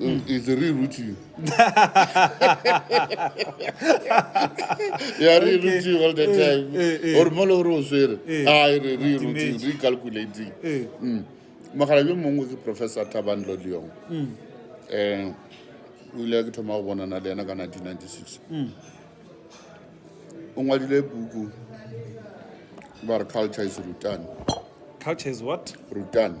Mm, is the real root you. yeah, real root you all the eh, time. Eh, eh. Or molo ro swere. Ah, re real root you, recalculating. Mm. Magala yo mongwe ke Professor Taban Lodiong. Mm. Eh, o ile ke thoma go bonana le ena ka 1996. Mm. O ngwadile buku ba re culture is rutan. Culture is what? Rutan.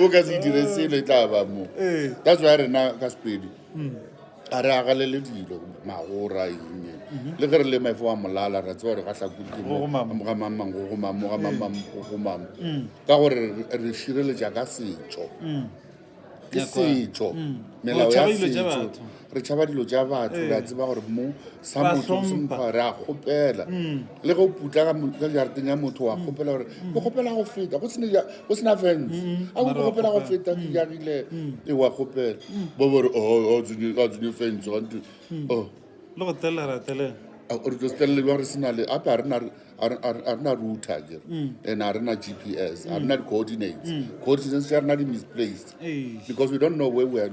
o ka se dire selo e tla ba mo Ee. that's why rena ka sepedi a re agalele dilo magora eng le ge re le maefo wa molala ra tsewa gore ga tlhakugamamang gogamamamgogamamgogamamo ka gore re- re šireletša ka setšo ke Nyakwa. setšo melao ya Tšhaba dilo tša setšo batho. re tšhaba dilo tša batho re a eh. tseba gore mo sa motho re a kgopela mm. le go putla ka jarateng ya motho wa mm. kgopela gore mm. ke kgopela go feta go sena fence a go kgopela go feta ke jagile e wa kgopela ba bore o oh, oh, tsenye fence gante o oh. le go telela telela re tlo setelele jwa re sena le ape a re na router ke and a re na g p s a re na di-coordinates coordinates ya re na di-misplaced because we don't know where we are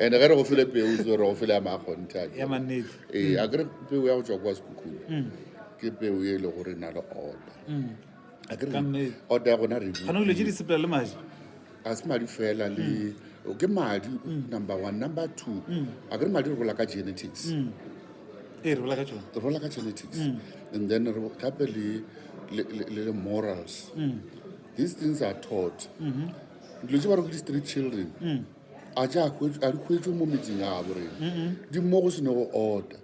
ande ge re go file peo re go file ya makgonte a ya mannete ee a kere peo ya go tswa kwa sekhukhung mm. ke peo e le gore na le order mm. a kere order ya gona re kana o le je di sepela le maji a se madi fela le mm. ke madi number 1 number 2 a kere madi re bola ka genetics ee re bola ka tsone re bola ka genetics and then re gape le le morals these things are taught mm-hmm. dilo tse ba re go di street children a tša a di hwetšwe mo metseng ya gabo rena di mo go sene go ota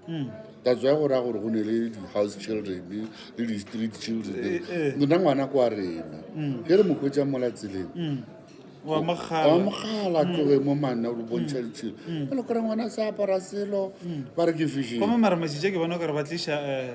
that's why go raya gore go ne le di-house children le di-street children eh, eh. nna ngwana kwa rena mm. ge re mo hwetsa mola tseleng mm. wa mogala mm. tloge mo manna o bontšha ditshelo a le kore ngwana se apara selo ba re ke fishingomamaramashitse ke bona kare ba tliša um eh,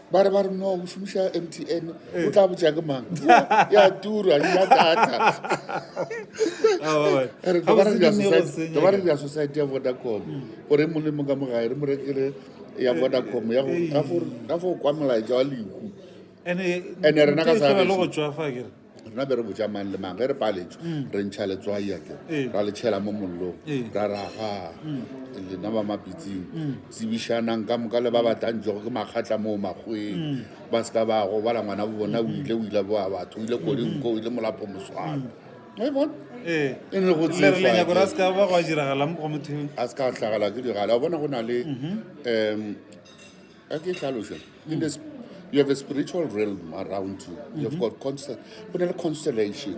ba re ba re no o šomiša mtn o tla botsa ke mang ya tura ya data re tlo ba re dira society- tlo ba re dira society ya vodacom gore e mong le mong ka mogae re mo rekele ya vodacom ya go- ka fo- ka fo kwa molaetša wa lehu ene Ene rena ka sa gešo. go tšwafa kere rena be re botša mang le mang ge re paletšwe mm. re ntšha letswai ake eh. ra le tšhela mo mollong eh. ra raga mm. lena ba mapitsing mm. tsebišanang ka moka le ba batlantšego ke makgatla moo makgweng ba se ka ba go bala ngwana bo bona o ile o ile boa batho o ile kodinko o ile molapo moswana e bona eh. e ne go tsenyako ra se ka ba go a diragala mo go motheo a se ka tlhagala ke diragala o bona go na le um mm-hmm. a ke tlhaloša in the sp- you have a spiritual realm around you you have got constel- go na le constellation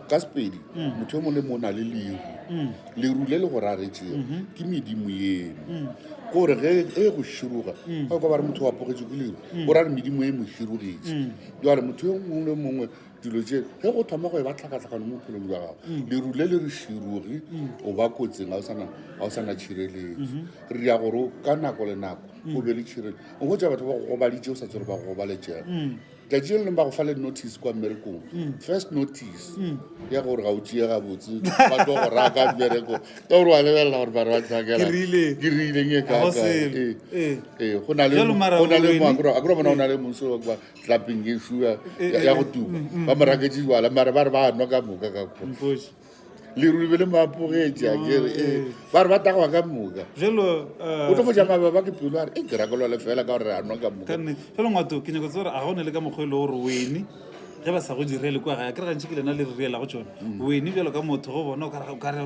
ka sepedi motho yo mongwe le mongwe o na le leru leru le le go raretšego ke medimo eno kore ge e go široga ga o ka ba re motho wa pogetso ke leru o ra re medimo e mo širogetše jale motho yo mongwe le mongwe dilo tše ge go thoma go e ba tlhakatlhakano mo bophelong jwa gago mm. leru le le re širugi mm. o ba kotseng ga o sana tšhireletso mm-hmm. re ya gore ka nako le nako mm. o be le tšhirele o go tsa batho ba go gobaditse o sa tsere ba go gobaletšega tlatši le leng ba go fa le notice kwa mmerekong first notice ya gore ga o tšee gabotse ba tlo go raya ka mmereko ka gore wa lebelela gore bare ba tlakelakeriileng e kaakore ee, ee, ee, go na le moakro bona o na le monso tlapeng ye šua eh, ya eh, go eh. tuma mm, mm, ba mo raketse jwala mare ba re ba nwa ka moka ka ko leruri be le maapogetša oh, kere ba re ba tagwa ka moka o tlo foja mababa ke pelo a re e ke rakelwa le fela ka gore a nwa ka moka fela ngwato ke nyako tse gore a ga o ne le ka mokgwa e le gore wene ge ba sa go direle kwa ga ya kere gantši ke lena le re reelago tsone mm. wene bjalo ka motho go bona o kare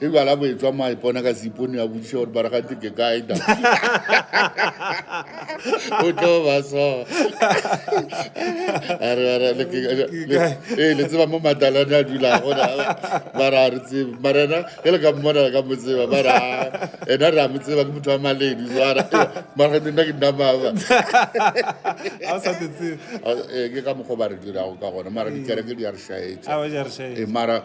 e bala bo etswa mo a ipona ka seipone a bodisa gore baragati ke kae da o tlo ba so ee le tseba mo matalane a dulago bara a re tsebe marena ge le ka mmona le ka mo tseba bara ena re a mo tseba ke motho wa maledi jara maragati nna ke nnamaba ke ka mokgwa ba re dirago ka gona mara dikereke di a re šaetša mara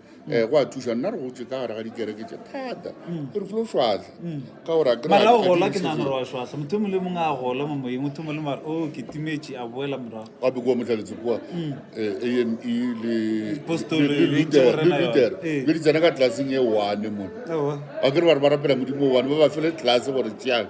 um go a thuša nna re gotse ka gare ga dikereke tše thata mm. re flo šwatlha mm. ka gore mara o gola ke nagana gore wa šwatlha motho mongwe le mongwe a gola mo moyeng motho mongwe le mara o oh, ke timetše a boela morago a be kua motlhaletse kua mm. eh, ame lepeter eh. be di tsena ka tlelaseng e one mone a kere ba re ba rapela modimo one ba ba fele tlelase gore tšeang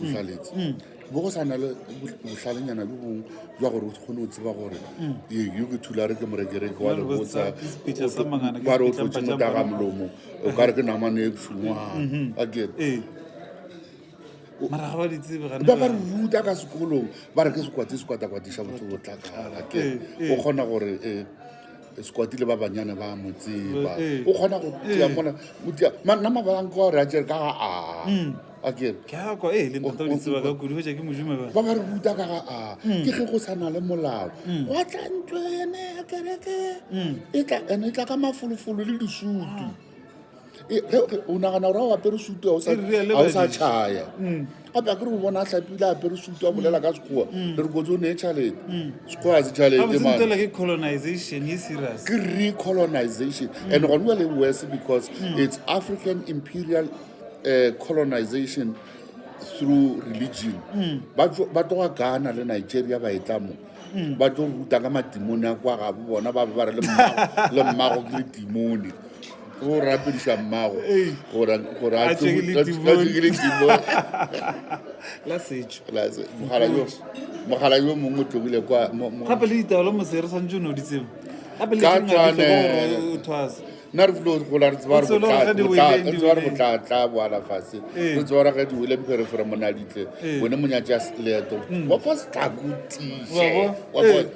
Bohlaletse. Mm. Bo go sana le bohlalenyana bo bong jwa gore o kgone go tseba gore mm. ee, yo ke thulare ke morekereke wa lebotsa ba re o tlotse motaga molomo o ka re ke namane e bšungwa mm-hmm. a get ee. ba ka re ruta ka sekolong ba re ke sekwate sekwatakwatiša botho botlakala ke ee, ee. o kgona gore ee sekwatile ba banyane ba mo tseba eh, eh. o kgona go tia eh. mona o tia nna mabalang ka gore a jere ka ga a hmm. a kere keako e le ntata o ditseba ka kudu hoja ke mojume ba ba ba re ruta ka ga a hmm. ke ge go sa na le molao hmm. gwa tla ntlo ene ya kereke e tla ene e tla ka mafolofolo le disutu o nagana gore a o apere sutu a o sa tšhaya gape a kere o bona a tlhapile a apere sutu a bolela ka sekgowa re re kotse o ne tšhalete sekgowa a se tšhalete ke recolonization and gone wa le worse because it's african imperial uh, colonization through religion ba tloga ghana le nigeria ba e tla mo mm, ba tlo ruta ka matimone a kwa gabo bona ba be ba re le mmago ke letimone o rapediša mmago gore a tšegile timone la setšo mogala yo mongwe o tlogile kwagape le ditaolo mosere tshwanetse o ne o ditsebo gape le nna re flo gola re tseba re tseba re botlatla boala fase re tseba ra ge diwele mpe re fore monaditle bone monyatse ya seleto wa fa setlako tiše wa bone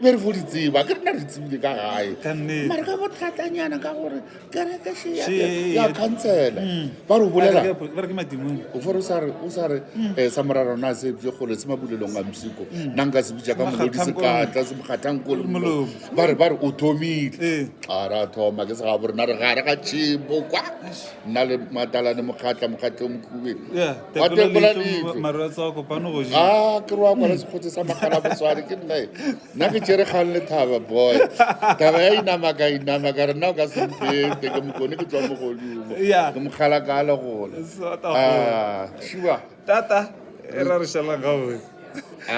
be re fo di tseba ke rena re tsebile ka gae mare ka botlatlanyana ka gore kereke ya khansela ba re bolela o fore o sa re sa morara rona se bje kgole se mabulelong a msiko nna nka se bitša ka molodi sekatla se mokgathang kole ba re ba re o thomile ee. a ra thoma ke sega borena re gare ga tšhimo kwa nna le matalane mokgatla mokgatla o mokhubeng wa tekola leitlho a ke roa kwa le sekgotse sa makgala botsware ke nnae nna ke tšere kgang le thaba boy taba ya inama ka inama ka re nna o ka sempete ke mokone ke tswa mogodumo ke mokgala ka le gona a shiwa tata e ra re šalang gaboe